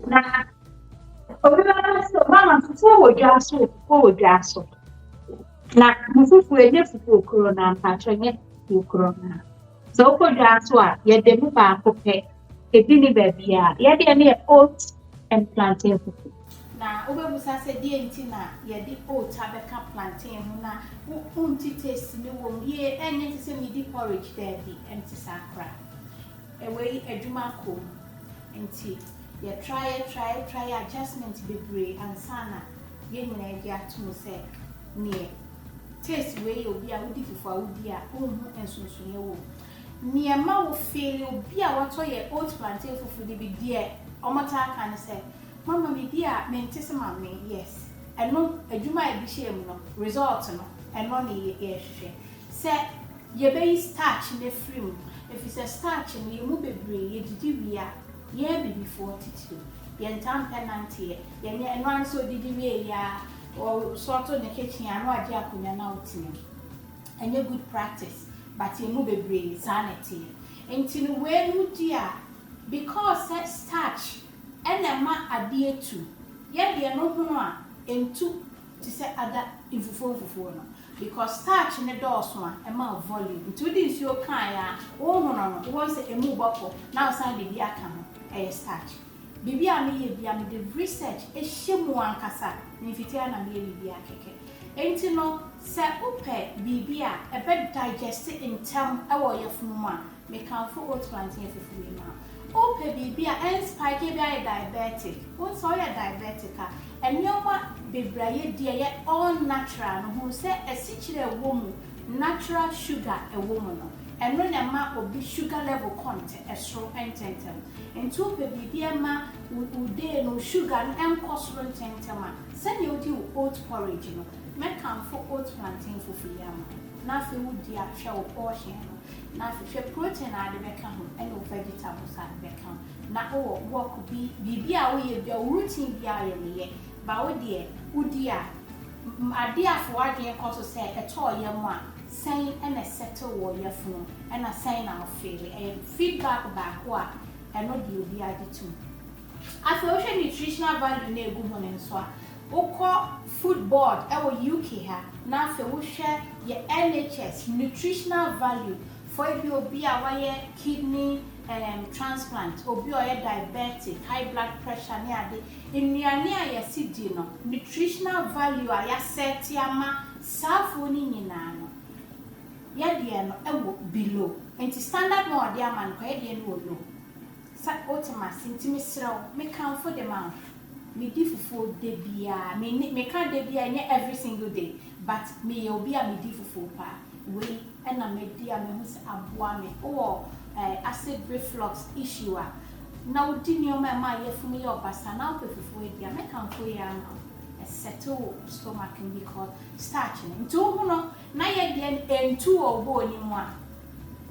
Na obi bɛka sɛ mama fufuo wɔ dwa so fufuo wɔ dwa so. Na mo fufuo ɛnyɛ fufuo koro no ampakyɛ nyɛ fufuo koro no. Sɛ wokɔ dwa so a yɛde mu baako pɛ ebi ne baabi a yɛdeɛ ne yɛ oat and plantain fufuo. Na wobɛbusa sɛ deɛ nti na yɛde oat abɛka plantain ho na wonte taste no wɔ mu yie ɛnyɛ te sɛ midi porridge daabi ɛnte saa koraa. Ɛwei adwuma kom nti yɛ try yɛ try yɛ try yɛ adjustment bebree ansa na yɛn nyinaa agye atom sɛ neɛ taste wei yɛ obi a wodi fufu a wodi a wonhu nsonsonoeɛ wom. Neɛ ɛma wo feeli obi a watɔ yɛ oat plantain fufu no bi deɛ wɔn taa ka ne sɛ mama me di a mente se mamee yes ɛno adwuma a ɛde hyɛɛ mu no result no ɛno ne yɛhwehwɛ. Sɛ yɛbɛyi starch no afiri mu, efisɛ starch no, yɛn mu bebree, yɛdidi wie a, yɛn Abibifoɔ titiriw, yɛntaa mpɛ nanteɛ, yɛnyɛ, ɛno ara ne sɛ ɔdidi wie yɛ ara, ɔsɔɔto ne kitchen a na wagye akonnwa na ɔtena mu. Ɛnyɛ good practice, but yɛn mu bebree, saa na ɛteɛ. Nti no, weinom di a, because sɛ starch na ɛma adeɛ tu, yɛ deɛ no hono a, ɛntu. te sɛ ada mfufuo mfufuo no because starch no dɔɔso a ɛma volume nti wode nsuo kae a wohono no wobɛhu sɛ ɛmu rebɔ kɔ na wosan de bi aka ho ɛyɛ starch biribi a meyɛ bia mede research hyɛ mu ankasa memfitiɛ na meyɛ biribi a kɛkɛ nti no sɛ wopɛ biribi a ɛbɛ digest ntɛm wɔ ɔyafunu mu a Mekamfo oat plantain afufu wei ma wo. Wopɛ biribi a ɛn spike ebia ayɛ diabetic. Wohu sɛ woyɛ diabetic a, nneɛma bebree a yɛdi a ɛyɛ all natural no, hu sɛ asikyire a ɛwɔ mu, natural sugar a ɛwɔ mu no, ɛno na ɛma obi sugar level kɔ soro ntɛmntɛm. Nti wopɛ biribi a ɛma wo wo day no wo sugar no ɛnkɔ soro ntɛmntɛm a, sɛdeɛ wodi wo oat porridge no, mɛkamfo oat plantain fufu yi ama wo na afei wodi a hwɛ wo portion no. Na hwɛ protein a ade bɛka ho ɛna wo vegetables a ade bɛka ho na owɔ work bi biribi a woyɛ bia wo routine bia a ɔyɛ meyɛ but wo deɛ wodi a adeɛ a fa w'adwene kɔ so sɛ ɛtɔɔ yam a sɛn ɛna ɛsettle wɔ yafunu ɛna sɛn na wo feeli ɛyɛ feedback baako a ɛno deɛ obiara gye tom. Afei wo hwɛ nutritional value na egu ho no nso a, wo kɔ food board ɛwɔ UK ha na afei wo hwɛ yɛ NHS nutritional value for ebi obi a wayɛ kidney ehm transplant, obi a ɔyɛ diabetic, high blood pressure ne ade, nnuane a yɛse di no nutritional value a y'a set ama saa foɔ no nyinaa no yɛ deɛ no ɛwɔ below nti standard no a ɔde ama no koraa yɛ deɛ no wɔ low. Sɛ wote me ase nti mesrɛ wo me kamfo de ma wo. Me di fufuo da biara, me nne me ka da biara ɛnyɛ every single day but me yɛ obi a me di fufuo paa. Wei na madi a mahu sɛ aboa me. Wo wɔ eh acid reflux issue a na wo di nneɛma a ɛma yafunu yɛ ɔbasaa na wo pɛ fufuo adi a me kamfo yei ama wo. Ɛ settle wo stomach no because starch no nti wo ho no na yɛ deɛ no ɛntu wɔ wo bɔɔ no mu a.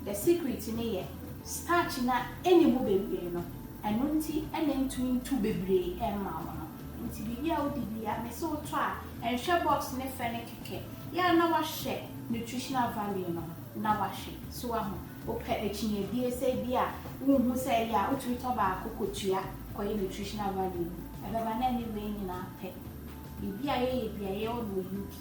The secret ne yɛ starch no a ɛnni mu bebree no, ɛno nti na ɛntumi ntu bebree mma wo no. Nti biribi a wodi biara, mese wotɔ a, nhwɛ box no fɛ no kɛkɛ. Yɛ a na woahwɛ nutritional value no ho na woahwɛ. So woahu? Wopɛ akyinnye bie sɛ ebi a wonhu sɛ ɛyɛ a, wotumi tɔ baako kɔtua kɔyɛ nutritional value no. Ɛbɛba na ɛne wei nyinaa pɛ. Baabi a yɛyɛ biara yɛwɔ no wɔ UK.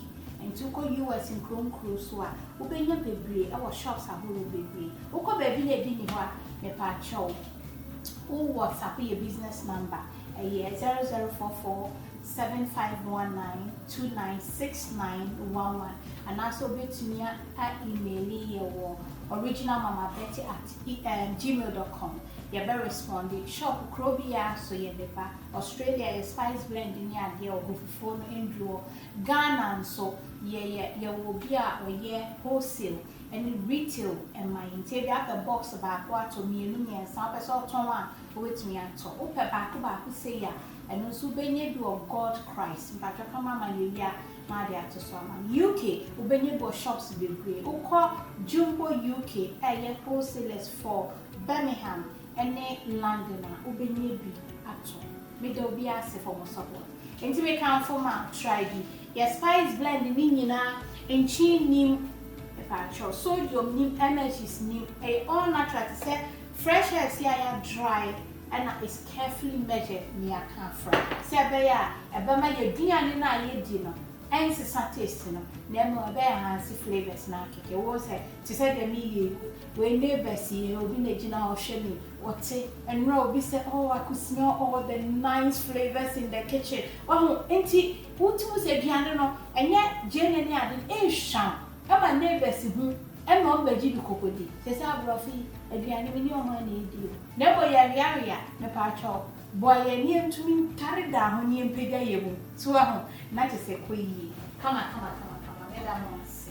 Nti wokɔ US nkuro nkuro so a wobɛnya bebree ɛwɔ shops ahorow bebree. Wokɔ baabi na ebi nni hɔ a mepaakyɛw wo whatsapp yɛ business number ɛyɛ zero zero four four seven five one nine two nine six nine one one anaasɛ wobɛtumi a a email yɛ wɔ originalmamabetty at gmail dot com yɛbɛ responde. Shop kuro biara so yɛde ba. Australia yɛ spice blend ne adeɛ wɔ hɔ fufuo no nduru hɔ Ghana nso yɛ yɛ yɛwɔ obi a ɔyɛ wholesale ɛne retail ɛma yɛn nti ebia apɛ box baako atɔ mmienu mmiɛnsa wopɛ sɛ ɔtɔn a wobɛtumi atɔ wopɛ baako baako sei a ɛno nso wobɛnya bi wɔ God Christ mpakyɛw ka ma ma yɛwie a ma de ato so ama no UK wobɛnya bi wɔ shops bebree wokɔ Jumbo UK ɛyɛ wholesalers for Birmingham ne London a wobɛnya bi ato me da obiara ase for mo support nti me kamfo ma try bi yɛ spice blend ne nyinaa nkyen nnim mepaakyɛw sodium nnim MSGs nnim ɛyɛ all natural te sɛ fresh herbs yi a yɛ dry ɛna is carefully measured ne yɛaka afra sɛ ɛbɛyɛ a ɛbɛma yɛduane no a yɛdi no ɛnsesa taste no na mmom ɛbɛ enhance flavours no akɛkɛ wohu sɛ te sɛ deɛ meyɛ yi Wei neighbours yi eh obi na ɛgyina hɔ hwɛ me ɔte ɛnora obi sɛ oh I could smell all the nice flavours in the kitchen wahu nti wotim sɛ aduane no ɛnyɛ gyeene ne ade no ɛhwam ɛma neighbours hu ɛma wɔn bɛgye bi kɔkɔdi sɛsɛ aborɔfo yi aduane me ne wɔn a na ɛdi o. Na mmom yɛweawea mepaatwɔ boa yɛn ne yɛntumi ntare daa ho ne yɛmpagya yɛn mu so wahu na kyesɛ kɔ yie kama kama kama kama meda mo ase.